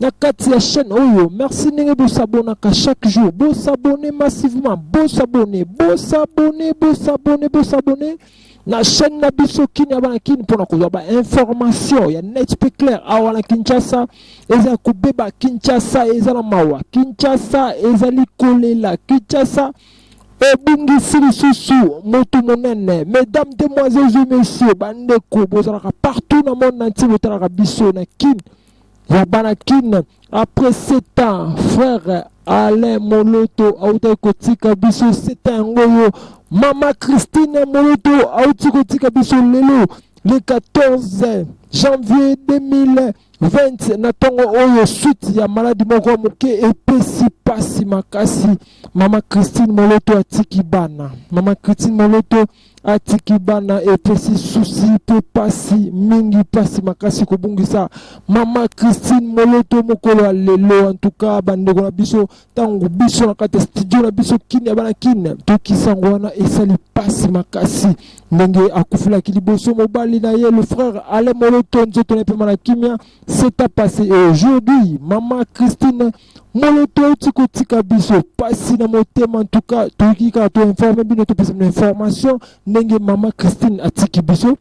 na kati ya chaîne oyo merci ndenge bosabonaka chaque jour bosabone massivement bosabone bosabone bosabone bosabone na chaîne na biso kini abana kini mpona kozwa bainformation ya net mpe claire awa na kinshasa eza ya kobeba kinshasa eza na mawa kinshasa ezali kolela kinshasa ebungisi lisusu motu monene mesdames demoiselles et messieurs bandeko bozalaka partout na monde na ntie botalaka biso na kini ya bana kin après 7 ans frère Alain Moloto autaki kotika biso 7 ans yango yo mama Christine Moloto auti kotika biso lelo le 14 janvier 2020 na ntongo oyo suite ya maladi moko ya moke epesi mpasi makasi mama Christine Moloto atiki bana mama Christine Moloto atiki bana epesi susi mpe pasi mingi pasi makasi kobungisa mama christine moloto mokolo ya lelo antuka bandeko na biso ntango biso na kati ya studio na biso kine ya bana kine tokisango wana esali pasi makasi ndenge akufelaki liboso mobali na ye le frère ale moloto nzoto na epema na kimia seta pase et aujourd'hui mama christine Moloto auti kotika biso pasi na motema ntuka toyiki kaka to informe bino topesa bino information ndenge mama Christine atiki biso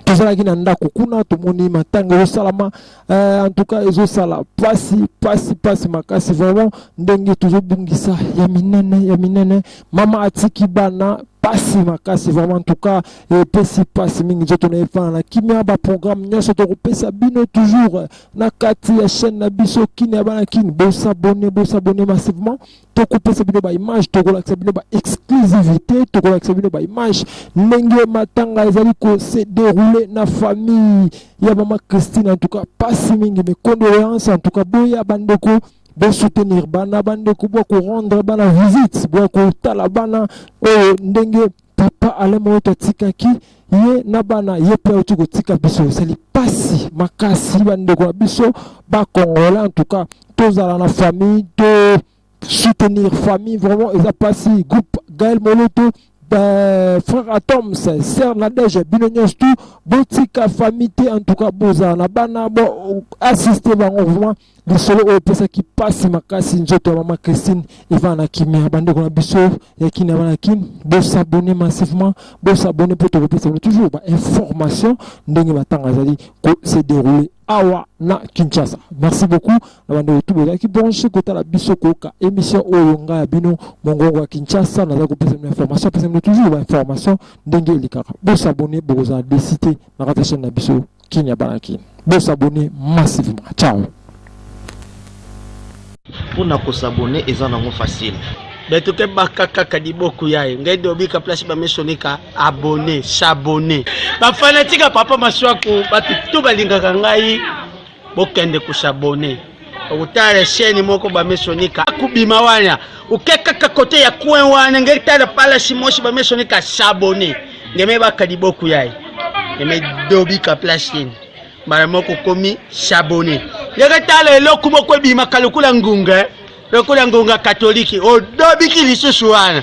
tozalaki na ndako kuna tomoni matanga ezosalama eh, antuka ezosala pasi pasi pasi makasi vraiment ndenge tozobungisa ya minene ya minene mama atiki bana pasi makasi vraiment en tout cas epesi pasi mingi nzoto na efana na kimia baprogramme nyonso tokopesa bino toujours na kati ya chaîne na biso kin ya bana kin bosabone bosabone massivement tokopesa bino baimage tokolakisa bino baexclusivité tokolakisa bino baimage ndenge matanga ezali kose déroule na famille ya mama christine en tout cas pasi mingi mes condoléances en tout cas boya bandeko bosoutenir bana bandeko bwa korendre bana visite bwa kotala bana oyo ndenge Papa Alain Moyoto atikaki ye na bana ye mpe auti kotika biso, esali pasi makasi bandeko na biso ba Congolais. En tout cas tozala na famille to soutenir famille, vraiment eza pasi. Groupe Gaël Moloto ben, frère Atoms, sœur Nadège, bino nyonso tout botika famille te en tout cas bozala na bana bo assister bango vraiment lisolo oyo epesaki mpasi makasi nzoto ya mama christine evana na kimia bandeko na biso ya kini avana na kini bosabone massivement bosabone mpo tokopesa bino toujours bainformation ndenge matanga azali kose deroule awa na kinshasa merci beaucoup na bandeko tu bozalaki branche kotala biso koyoka émission oyo ngai ya bino mongongo ya kinshasa nazali kopesa bino information apesa bino toujours bainformation ndenge elekaka bosabone bokozala desite na kati ya chaine na biso Kin ya bana kin. Bo s'abonner massivement. Ciao. Pour na ko s'abonner eza nango facile. Beto ke baka kaka liboku yaye ngai dobi ka place ba mesoni ka abonner, s'abonner. Ba fanatique ya papa Masuaku batu tout balingaka ngai bokende ko s'abonner. okutala sheni moko bamesonika akubima wana oke kaka kote ya coin wana nge tala palasi mosi bamesonika sabone ngeme bakadi boku yaye ngeme dobika place yeni mbala moko komi sabone ndenge tala eloko moko ebimaka lokola ngunga lokola ngunga katoliki odobiki lisusu wana